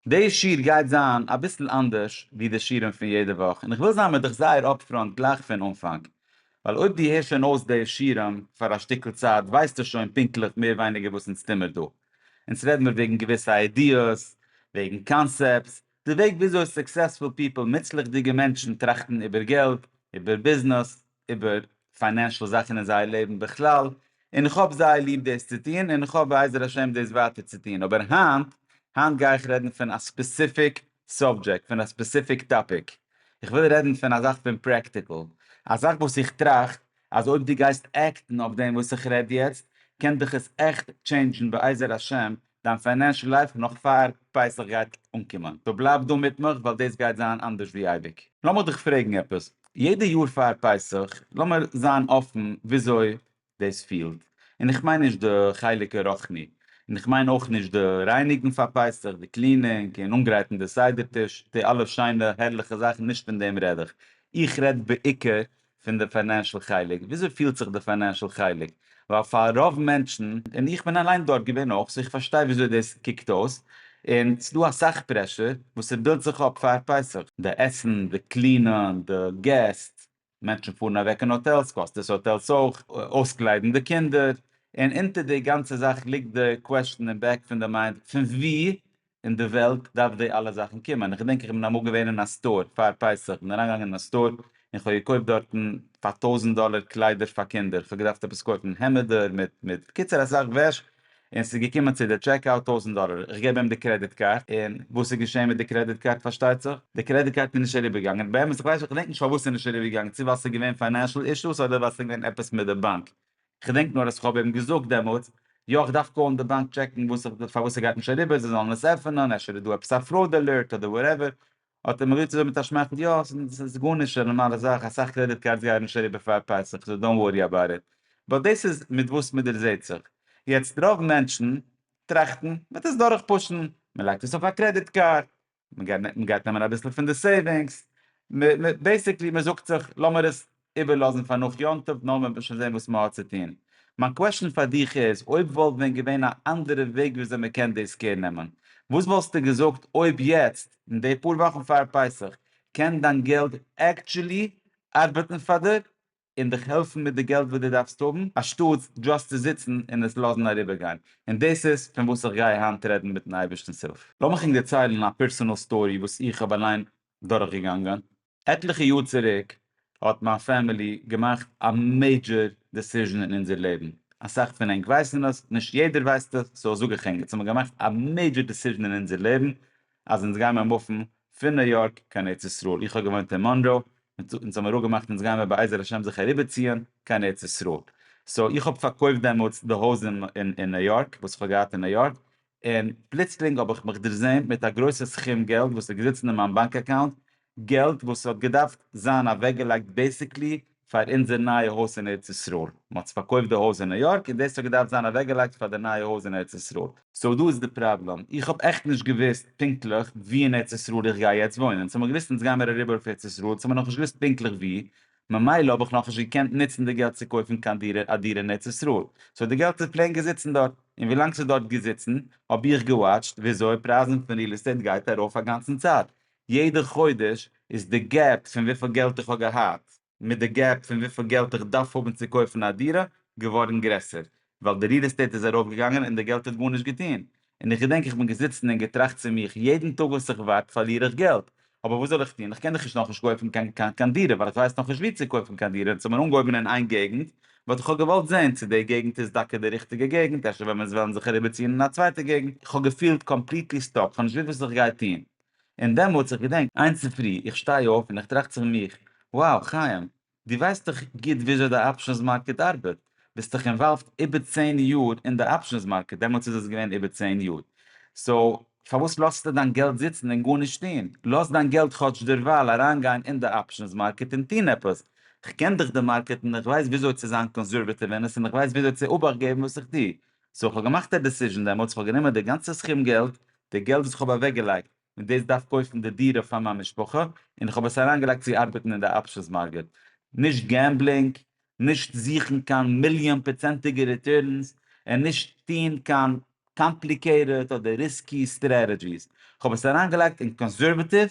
די שיעור גייט זיין אביסל אנדערש ווי די שיעורים פון יעדע וואך, און כ'וויל זיין מיט דיך זייער אפפראנט גלייך פון אנפאנג, ווייל אויב דו הערסט שוין אויס די שיעורים פאר א שטיקל צייט ווייסטו שוין פונקטליך מער ווייניגער וואס אונז טוהן מיר דא. אונז רעדן מיר וועגן געוויסע איידיעס, וועגן קאנסעפטס, די וועג וויאזוי סוקסעספול פיפל, מוצלח'דיגע מענטשן, טראכטן איבער געלט, איבער ביזנעס, איבער פיינענשעל זאכן אין זייער לעבן בכלל, און איך האב זייער ליב דאס צו טון, און איך האף בעזר השם דאס ווייטער צו טון, אבער היינט, היינט גיי איך רעדן פון א ספעסיפיק סאבדזשעקט, פון א ספעסיפיק טאפיק, איך וויל רעדן פון א זאך פון פרעקטיקל, א זאך וואס איך טראכט אז אויב דו גייסט עקטן אויף דעם וואס איך רעד יעצט, קען דיך עס עכט טשעינדזשן בעזר השם דיין פיינענשל לייף נאך פאר פסח גייט אנקומען, פארבלייב דא מיט מיך ווייל דאס גייט זיין אנדערש ווי אייביג. לאמיר דיך פרעגן עפעס, יעדע יאר פאר פסח, לאמיר זיין אפן וויאזוי דאס פילט, און איך מיין נישט די חלק הרוחני, און איך מיין אויך נישט די רייניגן פאר פסח, די קלינינג און אנגרייטן די סדר טיש, די אלע שיינע הערליכע זאכן, נישט פון דעם רעד איך, איך רעד בעיקר פון די פיינענשעל חלק, וויאזוי פילט זיך די פיינענשעל חלק, ווייל פאר רוב מענטשן, און איך בין אליין דארט געווען אויך, סאו איך פארשטיי וויאזוי דאס קוקט אויס, און ס'איז דא אסאך פרעשור וואס ס'בילדט זיך אפ פאר פסח. די עסן, די קלינען, די געסט, מענטשן פארן אוועק אין האטעלס, קאסט דאס האטעלס אויך, אויסקליידן די קינדער, און אונטער די גאנצע זאך ליגט די קוועשן אין בעק פון די מיינד, פון וואו אין די וועלט דארף די אלע זאכן קומען, איך געדענק איך בין אמאל געווען אין א סטאר פאר פסח, איך בין אריינגעגאנגען אין א סטאר און כ'האב געקויפט דארטן פאר טויזנט דאלער קליידער פאר קינדער, כ'האב געדארפט עפעס קויפן העמעדער מיט מיט בקיצור אסאך וועש, און ס'איז געקומען צו די טשעק אוט טויזנט דאלער, איך געב אים די קרעדיט קארד, און וואס איז געשען מיט די קרעדיט קארד פארשטייט זיך, די קרעדיט קארד איז נישט אריבער געגאנגען, באמת איך ווייס נישט איך געדענק נישט פארוואס ס'איז נישט אריבער געגאנגען, צו ווייל ס'איז געווען פיינענשעל אישוס אדער ווייל ס'איז געווען עפעס מיט די באנק, כ'דענק נאר אז כ'האב אים געזאגט דעמאלטס, יא כ'דארף קאלן די באנק טשעקן וואס פארוואס ס'גייט נישט אריבער, זיי זאלן עס עפענען, אפשר איז דא עפעס א פראוד אלערט אדער וואטעווער, האט ער מיר געזאגט מיט א שמייכל, יא ס'איז גארנישט, ס'איז א נארמאלע זאך, אסאך קרעדיט קארדס גייען נישט אריבער פאר פסח, סאו דאנט ווארי אבאוט איט. באט דאס איז מיט וואס מ'דערזעהט זיך. יעצט רוב מענטשן טראכטן, מ'וועט עס דורכפושן, מ'לייגט עס אויף א קרעדיט קארד, מען גייט נעמען אביסל פון די סעיווינגס, בעיסיקלי מען זאגט זיך לאמיר עס איבערלאזן פאר נאך יום טוב נאר מען וועט שוין זען וואס מען האט צו טון. מיין קוועשאן פאר דיך איז, אויב וואלט ווען געווען א אנדערע וועג ווי אזוי מען קען דאס קער נעמען, וואס וואלסטו געזאגט אויב יעצט, אין די פאר וואכן פאר פסח, קען דיין געלט עקטשולי ארבעטן פאר דיר? און דיך העלפן מיט די געלט וואס דו דארפסט האבן, אנשטאטס דשאסט צו זיצן און עס לאזן אריבערגיין, און דאס איז פון וואס איך גיי היינט רעדן מיטן אייבערשטנ'ס הילף. לאמיך ענק דערציילן א פערסאנעל סטארי וואס איך האב אליין דורכגעגאנגען. עטליכע יאר צוריק האט מיין פעמילי געמאכט א מעידזשער דעסיזשען אין אונזער לעבן, אסאך פון ענק ווייסן עס, נישט יעדער ווייסט עס, סאו זאג איך ענק, אונז האבן געמאכט א מעידזשער דעסיזשען אין אונזער לעבן, אז אונז גייען מיר מופן פון ניו יארק קיין ארץ ישראל, איך האב געוואוינט אין מאנרא, אונז האבן מיר אפגעמאכט אונז גייען מיר בעזר השם זיך אריבערציען קיין ארץ ישראל, סאו איך האב פארקויפט דעמאלטס די הויז אין ניו יארק וואס איך האב געהאט אין ניו יארק, און פלוצלינג האב איך מיך דערזעהן מיט א גרויסע סכום געלט וואס איז געזיצן אין מיין באנק אקאונט, געלט וואס האט געדארפט זיין אוועקגעלייגט בעיסיקלי פאר אונזער נייע הויז אין ארץ ישראל, מ'האט פארקויפט די הויז אין ניו יארק און דאס האט געדארפט זיין אוועקגעלייגט פאר די נייע הויז אין ארץ ישראל. סאו דא איז די פראבלעם, איך האב עכט נישט געוואוסט פונקטליך ווי אין ארץ ישראל איך גיי יעצט וואוינען, ס'האט מען געוואוסט אונז גיימער אריבער אויף ארץ ישראל, ס'האט מען נאכנישט געוואוסט פונקטליך ווי, ממילא האב איך נאכנישט געקענט נוצן די געלט צו קויפן קיין דירה א דירה אין ארץ ישראל, סאו די געלט איז פלעין געזיצן דארט, און ווי לאנג ס'איז דארט געזיצן האב איך געוואטשט וויאזוי פרייזן פון ריעל עסטעיט גייט ארויף אגאנצן צייט, יעדע חודש איז די געפ פון וויפיל געלט איך האב געהאט מיט די געפ פון וויפיל געלט איך דארף האבן צו קויפן א דירה געווארן גרעסער ווייל די ריעל עסטעיט איז ארויפגעגאנגען און די געלט האט גארנישט געטון און איך געדענק איך בין געזיצן און געטראכט צו מיך יעדן טאג וואס איך ווארט פארליר איך געלט אבער וואס זאל איך טון איך קען דאך נישט נאכנישט קויפן קיין קיין קיין דירה ווייל איך ווייס נאכנישט ווי צו קויפן קיין דירה און ס'האט מיר אנגעהויבן אין איין געגנט וואלט איך אויך געוואלט זען צו די געגנט איז דוקא די ריכטיגע געגנט אפשר וועלן זיי וועלן זיך אריבערציען אין א צווייטע געגנט איך האב געפילט קאמפליטלי סטאק כ'האב נישט געוואוסט וואס איך גיי טון און דעמאלטס, איך געדענק, איין צופרי, איך שטיי אויף און איך טראכט צו מיך, wow, חיים, דו ווייסט דאך גוט וויאזוי די אפשענס מארקעט ארבעט, ביסט דאך אינוואלווד איבער צען יאר אין די אפשענס מארקעט, דעמאלטס איז עס געווען איבער צען יאר, סאו, פארוואס לאזטו דיין געלט זיצן און גארנישט טון? לאז דיין געלט כאטש דערווייל אריינגיין אין די אפשענס מארקעט און טון עפעס, כ'קען דאך די מארקעט און איך ווייס וויאזוי צו זיין קאנסערוועטיוו אין עס און איך ווייס וויאזוי צו אבאכט געבן וואס איך טו. סאו, כ'האב געמאכט א דעסיזשן דעמאלטס, כ'האב גענומען די גאנצע סכום געלט די געלט וואס איך האב אוועקגעלייגט, מיט דאס דארף קויפן די דירה פאר מיין משפחה, און איך האב עס אריינגעלייגט צו ארבעטן אין די אפשענס מארקעט. נישט געמבלינג, נישט זוכן קיין מיליאן פראצענטיגע ריטורנס, און נישט טון קיין קאמפליקעיטעד אדער ריסקי סטרעטעדזשיס. איך האב עס אריינגעלייגט אין קאנסערוועטיוו,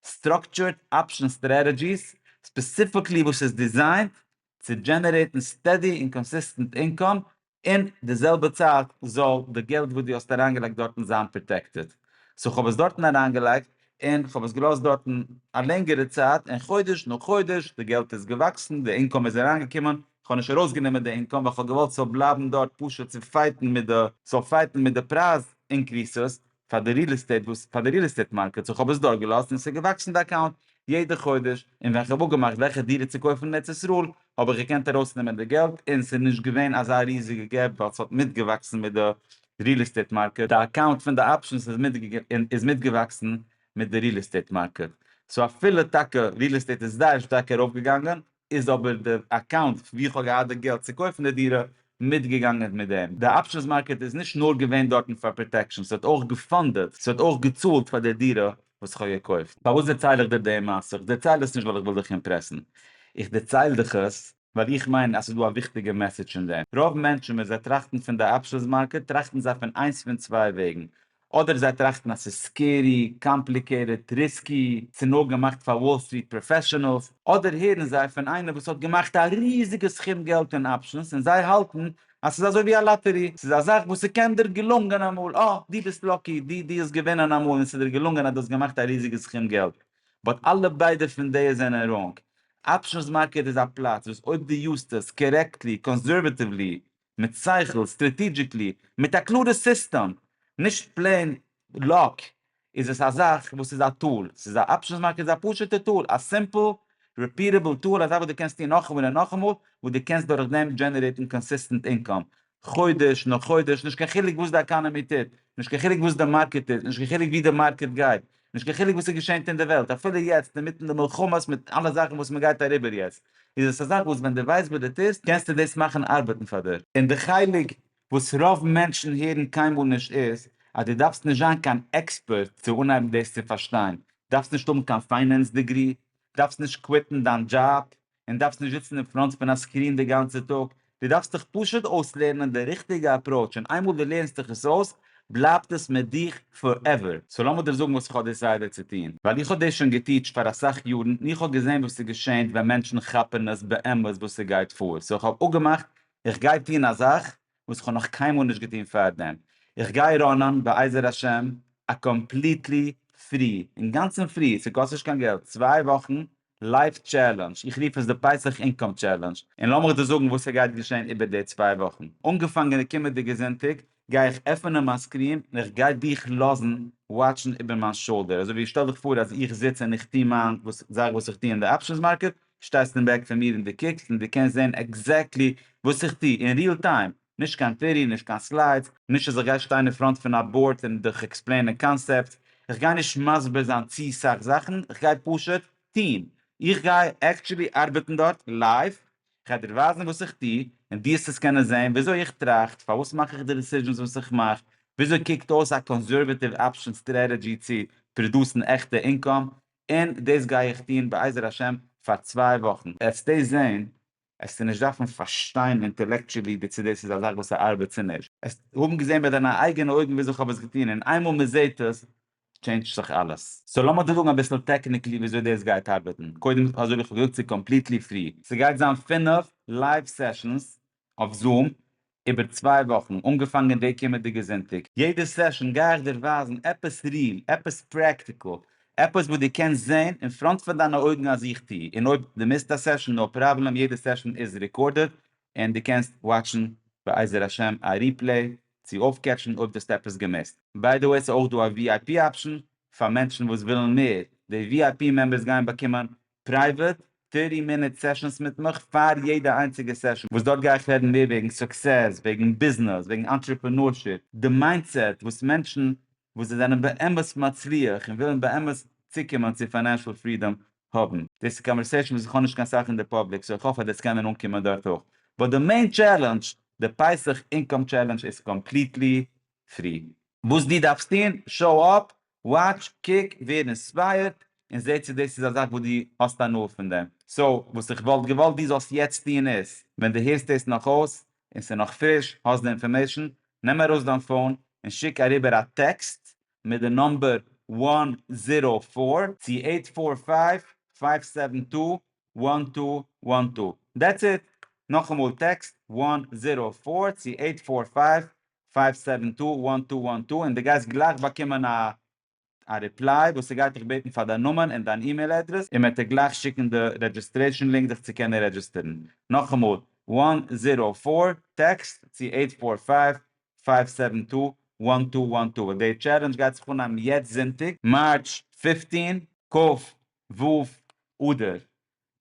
סטראקטשורט אפשען סטרעטעדזשיס, ספעסיפיקלי וואס איז דיזיינט צו דזשענערעיטן סטעדי און קאנסיסטענט אינקאם, אין די זעלבע צייט זאל די געלט וואס דו האסט אריינגעלייגט דארטן זיין פראטעקטעד. סאו כ'האב עס דארטן אריינגעלייגט, און כ'האב עס געלאזט דארטן א לענגערע צייט, און חודש נאך חודש די געלט איז געוואקסן, די אינקאם איז אריינגעקומען, כ'האב נישט ארויסגענומען די אינקאם ווייל כ'האב געוואלט ס'זאל בלייבן דארט פשוט צו פייטן מיט די, ס'זאל פייטן מיט די פרייז אינקריסעס, פאר די ריעל עסטעיט וואס פאר די ריעל עסטעיט מארקעט סאו כ'האב עס דארט געלאזט און ס'איז געוואקסן די אקאונט יעדע חודש און ווען כ'האב אפגעמאכט וועלכע דירה צו קויפן אין ארץ ישראל האב איך געקענט ארויסנעמען די געלט און ס'איז נישט געווען אזא ריזיגע געפ ווייל ס'האט מיטגעוואקסן מיט די ריעל עסטעיט מארקעט די אקאונט פון די אפשענס איז איז מיטגעוואקסן מיט די ריעל עסטעיט מארקעט סאו אפילו טאקע ריעל עסטעיט איז זייער שטארק ארויפגעגאנגען איז אבער די אקאונט ווי איך האב געהאט די געלט צו קויפן די דירה מיטגעגאנגען מיט דעם. די אפשענס מארקעט איז נישט נאר געווען דארטן פאר פראטעקשן, ס'האט אויך געפאנדעט, ס'האט אויך געצאלט פאר די דירה וואס איך האב געקויפט. פארוואס דערצייל איך דיר די מעשה? איך דערצייל עס נישט ווייל איך וויל דיך אימפרעסן, איך דערצייל דיך עס, ווייל איך מיין אז ס'איז דא א וויכטיגע מעסעדזש אין דעם, רוב מענטשן ווען זיי טראכטן פון די אפשענס מארקעט טראכטן זיי פון איינס פון צוויי וועגן, אדער זיי טראכטן אז ס'איז סקערי, קאמפליקעיטעד, ריסקי, ס'נאר געמאכט פאר וואל סטריט פראפעשענעלס, אדער הערן זיי פון איינער וואס האט געמאכט א ריזיגע סכום געלט אין אפשענס און זיי האלטן אז ס'איז אזוי ווי א לאטערי, ס'איז א זאך וואס ס'קען דיר געלונגען אמאל, אה, דו ביסט לאקי, דו דו האסט געווינען אמאל און ס'איז דיר געלונגען אז דו האסט געמאכט א ריזיגע סכום געלט, באט אלע ביידע פון די זענען ראנג, אפשענס מארקעט איז א פלאץ וואס אויב דו יוזט עס, קערעקטלי, קאנסערוועטיוולי, מיט שכל, סטרעטידזשיקלי, מיט א קלארע סיסטעם, נישט פלעין לאק, איז עס א זאך וואס איז א טול, ס'איז א אפשענס מארקעט איז א פשוטע טול, א סימפל ריפיעטעבל טול, א זאך וואס דו קענסט טון נאכאמאל און נאכאמאל, וואס דו קענסט דורך דעם דזשענערעיטן קאנסיסטענט אינקאם, חודש נאך חודש, נישט קיין חילוק וואס די עקאנעמי טוט, נישט קיין חילוק וואס די מארקעט טוט, נישט קיין חילוק ווי די מארקעט גייט, נישט קיין חילוק וואס עס געשענט אין די וועלט אפילו יעצט אינמיטן די מלחמות מיט אלע זאכן וואס מען גייט אריבער יעצט איז עס א זאך וואס ווען די ווייסט וואס די טוסט קענסטו דאס מאכן ארבעטן פאר דיר. און די חלק וואס רוב מענטשן הערן קיינמאל נישט איז אז די דארפסט נישט זיין קיין עקספערט צו אנהייבן דאס צו פארשטיין, דארפסט נישט האבן קיין פיינענס דעגרי, דארפסט נישט קוויטן דיין דזשאב, און דארפסט נישט זיצן אין פראנט פון א סקרין די גאנצע טאג, דו דארפסט דיך פשוט אויסלערנען די ריכטיגע אפראוטש און איינמאל דו לערנסט דיך עס אויס בלייבט עס מיט דיך פארעווער. סאו לאמיר דיר זאגן וואס איך האב דעסיידעט צו טון, ווייל איך האב דאס שוין געטיטשט פאר אסאך יארן און איך האב געזען וואס ס'געשענט ווען מענטשן כאפן עס באמת וואס ס'גייט פאר, סאו איך האב אפגעמאכט איך גיי טון א זאך וואס איך האב נאך קיינמאל נישט געטון פאר דעם, איך גיי ראנען בעזר השם א קאמפליטלי פרי, אינגאנצן פרי, ס'קאסט נישט קיין געלט, צוויי וואכן לייף טשעלענדזש, איך רוף עס די פסח אינקאם טשעלענדזש, און לאמיך דיר זאגן וואס ס'גייט געשען איבער די צוויי וואכן. אנגעפאנגען די קומענדיגע זונטאג גיי איך עפענען מיין סקרין און איך גיי דיך לאזן וואטשן איבער מיין שאלדער, אזוי ווי שטעל דיך פאר אז איך זיץ און איך טו מיין זאך וואס איך טו אין די אפשענס מארקעט, שטייסט אין בעק פון מיר און דו קוקסט און דו קענסט זען עקזעקטלי וואס איך טו אין ריעל טיים. נישט קיין טירי, נישט קיין סליידס, נישט אז איך גיי שטיין אין פראנט פון א באורד און דיך עקספלעינען קאנסעפטס, איך גיי נישט מסביר זיין צו סאך זאכן, איך גיי פשוט טון, איך גיי עקטשולי ארבעטן דארט לייוו, איך גיי דיר ווייזן וואס איך טו, און דו האסט עס קענען זען, וויאזוי איך טראכט, פארוואס מאך איך די דעסיזשענס וואס איך מאך, וויאזוי קוקט אויס א קאנסערוועטיוו אפשען סטרעטעדזשי צו פראדוסן עכטע אינקאם, און דאס גיי איך טון בעזר השם פאר צוויי וואכן. עטס טעסט זען עסטו נישט דארפן פארשטיין אינטעלעקטשעלי די צו דאס איז א זאך וואס ארבעט צו נישט, עסט האבן געזען מיט דיינע אייגענע אויגן וויאזוי כ'האב עס געטון, און איינמאל מען זעט עס טשעינדזשט זיך אלעס. סאו לאמיר דיר זאגן אביסל טעקניקלי וויאזוי דאס גייט ארבעטן, קודם אזוי ווי כ'האב געזאגט ס'איז קאמפליטלי פרי, ס'גייט זיין פֿינף לייוו סעשאנס אויף זום, איבער צוויי וואכן, אנגעפאנגען די קומענדיגע זונטאג. יעדע סעשאן גיי איך דיר ווייזן עפעס ריעל, עפעס פרעקטיקל, עפעס וואס דו קענסט זען אין פראנט פון דיינע אויגן אז איך טו, און אויב דו מיסט א סעשאן נאו פראבלעם, יעדע סעשאן איז רעקארדעד און דו קענסט וואטשן בעזר השם א ריפלעי צו אויפקעטשן אויב דו האסט עפעס געמיסט. ביי די וועי ס'איז אויך דא א vip אפשן פאר מענטשן וואס ווילן מער, די vip מעמבערס גייען באקומען פרייוועט, פירטי מינוט סעשאנס מיט מיך פאר יעדע איינציגע סעשאן, וואס דארט גיי איך רעדן מער וועגן סוקסעס, וועגן ביזנעס, וועגן אנטרעפענארשיפ, די מיינדסעט וואס מענטשן וואס זיי זענען באמת מצליח און ווילן באמת צוקומען צו פיינענשעל פרידאם האבן. דאס איז קאנווערסעישאן וואס איך האב נישט קיין סאך אין די פאבליק, סאו איך האף אז דאס קען מען אנקומען דארט אויך. באט די מעין טשעלענדזש, די פסח אינקאם טשעלענדזש איז קאמפליטלי פרי. וואס דו דארפסט טון, שאו אפ, וואטש, קוק, ווער אינספייערט, און זע צו דאס איז א זאך וואס דו האסט הנאה פון דעם. סאו, וואס איך וואלט געוואלט דו זאלסט יעצט טון איז, ווען דו הערסט דאס נאך אויס, און ס'איז נאך פריש, האסט די אינפארמעישן, נעם ארויס דיין פאון, און שיק אריבער א טעקסט מיט די נומבער וואן זירא פאר צו עיט פאר פייוו פייוו סעווען טו וואן טו וואן טו. דעטס איט. נאכאמאל טעקסט וואן זירא פאר צו עיט פאר פייוו פייוו סעווען טו וואן טו וואן טו און די גייסט גלייך באקומען א א ריפליי וואס ס'גייט דיך בעטן פאר דיין נאמען און דיין אימעיל אדרעס און מ'עט דיר גלייך שיקן די רעדזשיסטרעישן לינק דיך צו קענען רעדזשיסטערן. נאכאמאל, וואן זירא פאר, טעקסט צו עיט פאר פייוו, פייוו סעווען טו, וואן טו וואן טו. די טשעלענדזש גייט זיך אנהייבן יעצט זונטאג, מארטש פיפטין, כ ו אדר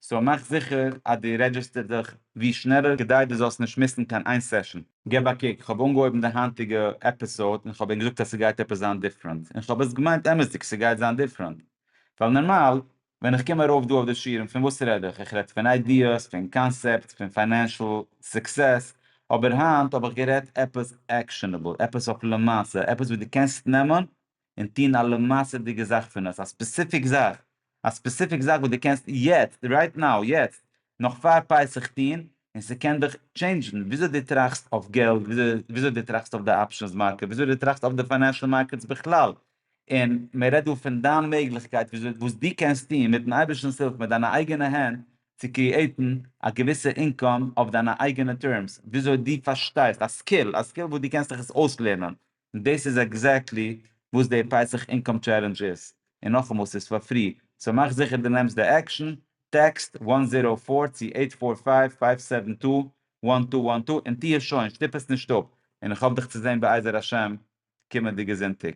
סאו מאך זיכער אז דו רעדזשיסטער דיך ווי שנעלער כדי דו זאלסט נישט מיסן קיין איין סעשאן. געב א קוק, כ'האב אנגעהויבן די היינטיגע עפיסאוד און כ'האב ענק געזאגט אז ס'גייט עפעס זיין דיפרענט, און כ'האב עס געמיינט אמת'דיג ס'גייט זיין דיפרענט, ווייל נארמאל ווען איך קום ארויף דא אויף די שירעם פון וואס רעד איך? איך רעד פון איידיעס, פון קאנסעפטס, פון פיינענשעל סוקסעס, אבער היינט האב איך גערעדט עפעס עקשענעבל, עפעס אויף למעשה, עפעס וואס דו קענסט נעמען און טון א למעשה'דיגע זאך פון עס, א ספעסיפיק זאך, א ספעסיפיק זאך וואס דו קענסט יעצט, רייט נאו, יעצט, נאך פאר פסח טון, און ס'קען דיך טשעינדזשן וויאזוי דו טראכסט אויף געלט, וויאזוי דו טראכסט אויף די אפשענס מארקעט, וויאזוי דו טראכסט אויף די פיינענשעל מארקעטס בכלל, און מען רעדט דא פון דיין מעגליכקייט וויאזוי וואס דו קענסט טון מיט'ן אייבערשטנ'ס הילף מיט דיינע אייגענע הענט צו קריעיטן א געוויסע אינקאם אויף דיינע אייגענע טערמס, וויאזוי דו פארשטייסט, א סקיל, א סקיל וואס דו קענסט דיך עס אויסלערנען, און דאס איז עקזעקטלי וואס די פסח אינקאם טשעלענדזש איז, און נאכאמאל ס'איז פאר פרי, סאו מאך זיכער די נעמסט די עקשאן, טעקסט וואן זירא פאר צו עיט פאר פייוו פייוו סעווען טו וואן טו וואן טו און טוה שוין, שטופ עס נישט אפ, און איך האף דיך צו זען בעזר השם קומענדיגע זונטאג.